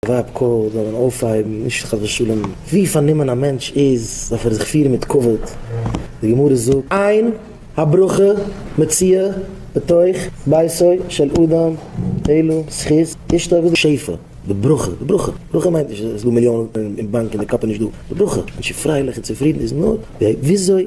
וואב ק זאל מען אויפהייבן, נישט חס ושלום ווי פארנומען א מענטש איז, דארף ער זיך פירן מיט כבוד, די גמרא זאגט, אין הברכה מציאה בתוך ביתו של אדם אלא זכות אשתו וואס איז שפע? די ברכה, די ברכה, ברכה מיינט נישט אז עס איז דא מיליאנען אין באנק און די קאפ איז נישט דא, די ברכה, מענטש איז פרייליך און צופרידן איז נאר וויאזוי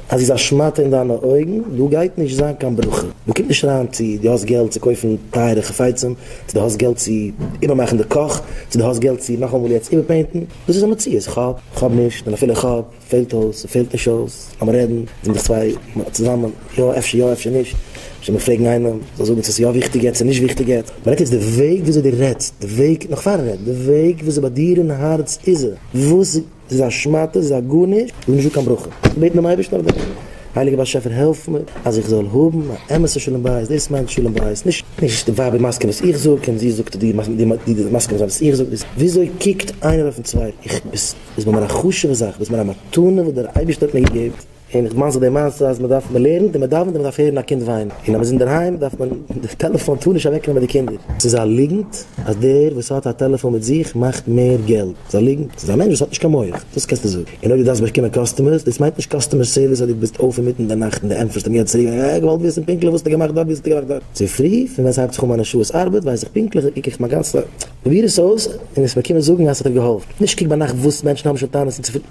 אז איז א שמאטע אין דיינע אויגן, דא גייט נישט זיין קיין ברכה, דא קומט נישט אריין צו דו האסט געלט צו קויפן טייערע חפצים, צו דו האסט געלט צו איבערמאכן די קאך, צו דו האסט געלט צו נאכאמאל יעצט איבערפעינטן, דאס איז א מציאות, איך האב, איך האב נישט, און אפילו איך האב, פעלט אויס, ס'פעלט נישט אויס, לאמיר רעדן, זענען דאס צוויי צוזאמען, יא אפשר יא אפשר נישט, אפשר מיר פרעגן איינעם, זאל זאגן צו עס איז יא וויכטיג יעצט צו נישט וויכטיג יעצט, מען רעדט יעצט די וועג וויאזוי דו רעדסט, די וועג, נאך פארן רעדן, די וועג וויאזוי ביי דיר אין הארץ איז, וואס. ס'איז א שמאטע, ס'איז א גארנישט, ס'איז נישט דא קיין ברכה. איך בעט דעם אייבערשטן אויף דעם, הייליגער באשעפער העלף מיר אז איך זאל האבן א אמת'ע שלום בית, דאס מיינט שלום בית, נישט נישט די ווייב איז מסכים וואס איך זאג און זי זאגט די די מסכים זיין וואס איך זאג, דאס וויאזוי קוקט איינער אויפן צווייטן, איך ביסט ביסט מיר א חשוב'ע זאך, ביסט מיר א מתנה וואס דער אייבערשטער האט מיר געגעבן. און איך דערמאן זיך די מעשה אז מען דארף מען לערנט און מען דאווענט און מען דארף הערן א קינד וויינען און אז מען איז אינדערהיים דארף מען די טעלעפאן טאר נישט אוועק נעמען די קינדער ס'איז א ליגנט אז דער וואס האט א טעלעפאן מיט זיך מאכט מער געלט ס'איז א ליגנט ס'איז א מענטש וואס האט נישט קיין מח דאס קענסטו זאגן און אויב דו דארפסט באקומען קאסטומערס דאס מיינט נישט קאסטומער סערוויס אז דו ביסט אויף אינמיטן די נאכט און דו ענטפערסט אים יעצט צוריק אה איך וואלט געוויסן פונקטליך וואס האסטו געמאכט דארט ווי האסטו געמאכט דארט צופרי פון ווען ס'הייבט זיך אן מיינע שעות ארבעט ווייס איך פונקטליך איך קוק איך מיין גאנצע פרוביר עס אויס און עס באקומען זאגן אז ס'האט דיר געהאלפן נישט קוק ביינאכט וואס מענטשן האבן שוין טענות און צופרי.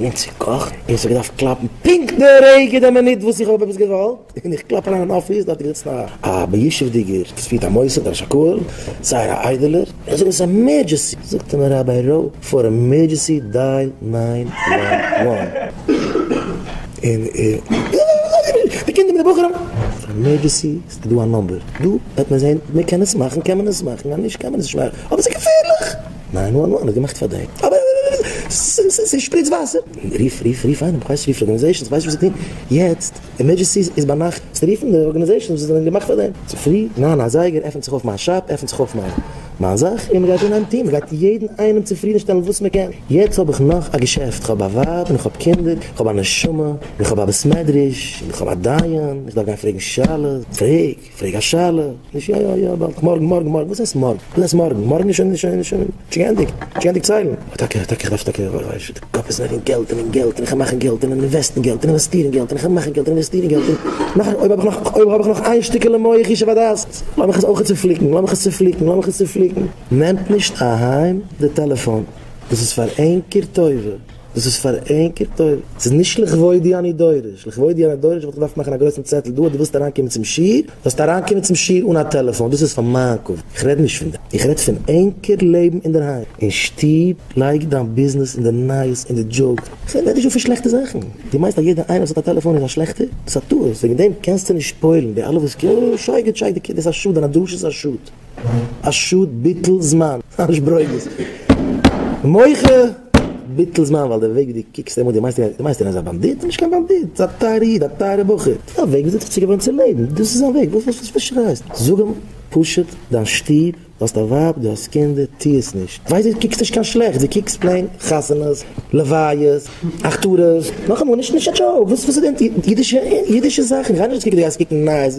און צו קאכן, און איך האב געדארפט קלאפן פונקט די רגע די מינוט וואס איך האב עפעס געוואלט, און איך קלאפ אריין אין אפיס, דארט איז געזיצן א א בישוב'דיגער וואס פירט א מוסד א ראש הקהל, זייער א איידעלער, איך זאג עס איז עמערדזשעסי, זאגט ער מיר ראביי ר' פאר עמערדזשעסי דייל ניין וואן וואן, און די קינדער מיט די בחורים, פאר עמערדזשעסי איז דא א נומבער דא, וועט מען זען, אויב מען קען עס מאכן קען מען עס מאכן, אויב נישט קען מען עס נישט מאכן, אבער ס'איז געפערליך! נײַן װאַן װאַן האָט געמאַכט פֿאַרדרײט. אַבער סע שפּריצט װאַסער! רוף, רוף, רוף אײנעם, כ'װײס נישט, רוף די אָרגאַניזאַציעס, כ'װײס נישט, װאָס זײ טוען. יעצט, עמערדזשענסי איז בײַ נאַכט. זאָלסטו רופֿן די אָרגאַניזאַציעס, װאָס האָבן געמאַכט פֿאַרדרײט. צופֿרי, נײַן אַ זײגער, עפֿנט זיך אױף מײַן שאַפּ, עפֿנט זיך אױף מײַן, מײַן זאַך, און מע גײט אָנהײבן טון. מע גײט יעדן אײנעם צופֿרידנשטעלן, װאָס מע קען. יעצט האָב איך נאָך אַ געשעפֿט. כ'האָב אַ װײַב און כ'האָב קינדער. כ'האָב אַ נשמה און כ'האָב אַ בית-מדרש. און כ'האָב אַ דײַן. איך דאַרף גײן פֿרעגן שאלות. פֿרעג! פרעג א שאלה, נישט יא יא יא באלד, מארגן מארגן מארגן, וואס הייסט מארגן? וואס הייסט מארגן? מארגן איז שוין שוין שוין שוין געענדיגט, שוין געענדיגט ציילן. טאקע טאקע איך דארף טאקע ווייסט די קאפ איז אין געלט אין געלט אין כ'על מאכן געלט אין אינוועסטן געלט אין אינוועסטירן געלט אין כ'על מאכן געלט אין אינוועסטירן געלט אין נאך אויב האב איך נאך אויב האב איך נאך איין שטיקעלע מח ישוב הדעת לאמיך עס אויך צופליקן לאמיך עס צופליקן לאמיך עס צופליקן נעמט נישט אהיים די טעלעפאן דאס איז פאר ענקער טובה. דאס איז פאר ענקער טובה, ס'איז נישט לכבודי אני דורש, לכבודי אני דורש וואלט איך געדארפט מאכן א גרויסן צעטל דא אז דו ווילסט אריינקומען צום שיעור, זאלסטו אריינקומען צום שיעור אן א טעלעפאן, דאס איז פאר מיין כבוד, איך רעד נישט פון דעם, איך רעד פון ענקער לעבן אינדערהיים, אין שטוב, לייג דיין ביזנעס אין די נייעס אין די דזשאוק, כ'רעד נישט דא פון שלעכטע זאכן, דו מיינסט אז יעדער איינער וואס האט א טעלעפאן איז א שלעכטער? דאס איז א טעות, וועגן דעם קענסטו נישט פועל'ן, די אלע וואס, שייגעץ שייגעץ, דאס איז א שאד, דיינע דרשות איז א שאד. א שאד ביטול זמן אנש ברוגז מוחה ביטול זמן ווייל די וועג ווי די קוקסט אים אן די מיינסט די מיינסט ער איז א באנדיט נישט קיין באנדיט ס'איז א טייערע איד א טייערע בחור א וועג וויאזוי צו געוואוינען צום לעבן דאס איז זיין וועג וואס וואס וואס שרייסט זאג אים פשוט דיין שטוב דו האסט א ווייב דו האסט קינדער טוה עס נישט כ'ווייס דו קוקסט נישט קיין שלעכטס דו קוקסט פלעין חתונות לוויות הכתרות נאכאמאל נישט נישט א דזשאוק וואס איז די אידישע אידישע זאכן כ'גיי נישט צוריק די גייסט קוקן נייעס.